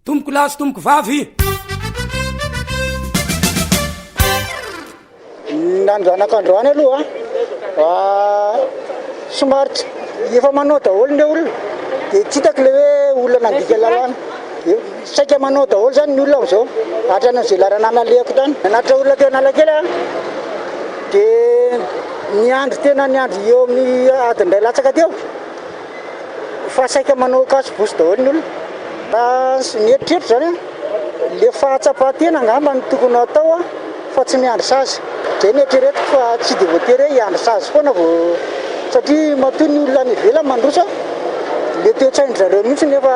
Tompoko lahy sy tompoko vavy. Ny androanako androany aloha ah, somary tsy efa manao daholo ny olona dia tsy hitako ilay hoe olona nandika lalàna. Dia saika manao daholo izany ny olona amin'izao, hatrany amin'izay lalanà nalehako tany. Nanatitra olona teo Analakely aho dia niandry tena niandry eo amin'ny adiny iray latsaka teo. fa saika manao cache bouche daholo ny olona raha ny eritreritra zany an le fahatsapan-tena angamba no tokony hatao an fa tsy miandry sazy zay ny eritreretiko fa tsy de voatery hoe hiandry sazy foana vao satria matoa ny olona any ivelany mandroso an le toe-tsain-dry zareo mihitsy ny efa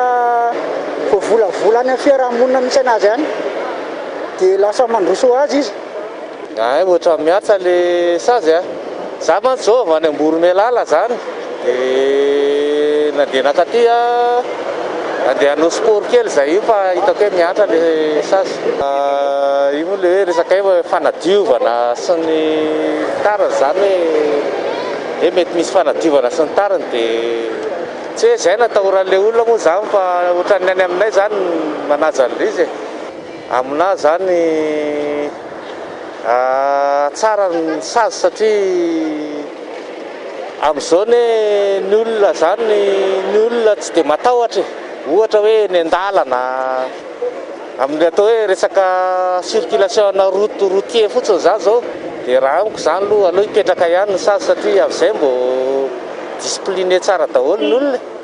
voavolavola any amin'ny fiarahamonina misy anazy any de lasa mandroso ho azy izy Hay ohatran'ny mihatsa le sazy a! Za mantsy zao avy any Amboromelala zany de nandeha nakaty a, andeha hanao sport kely zay io fa hitako hoe mihatra le sazy. Io moa le hoe resaka hoe fanadiovana sy ny tariny zany hoe hoe mety misy fanadiovana sy ny tariny de tsy hoe zay no atahoran'le olona moa zany fa ohatran'ny any aminay zany manaja an'le izy e! Aminah zany. Tsara ny sazy satria amin'izao anie ny olona izany ny olona tsy dia matahotra e, ohatra hoe eny an-dalana amin'ny atao hoe resaka circulation ana route routier fotsiny izany izao dia raha amiko izany aloha aleo hipetraka ihany ny sazy satria amin'izay mbo discipliner tsara daholo ny olona e.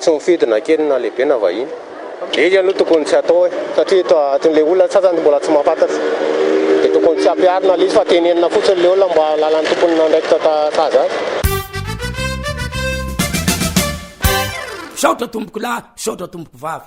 Tsy mifidy na kely na lehibe na vahiny. Izy aloha tokony tsy atao e, satria eto atin'ilay olona antsasany mbola tsy mahafantatra dia tokony tsy ampiharina ilay izy fa tenenina fotsiny ilay olona mba halalan'ny tompony na andraikitra sahaza azy. Misaotra tompokolahy, misaotra tompokovavy.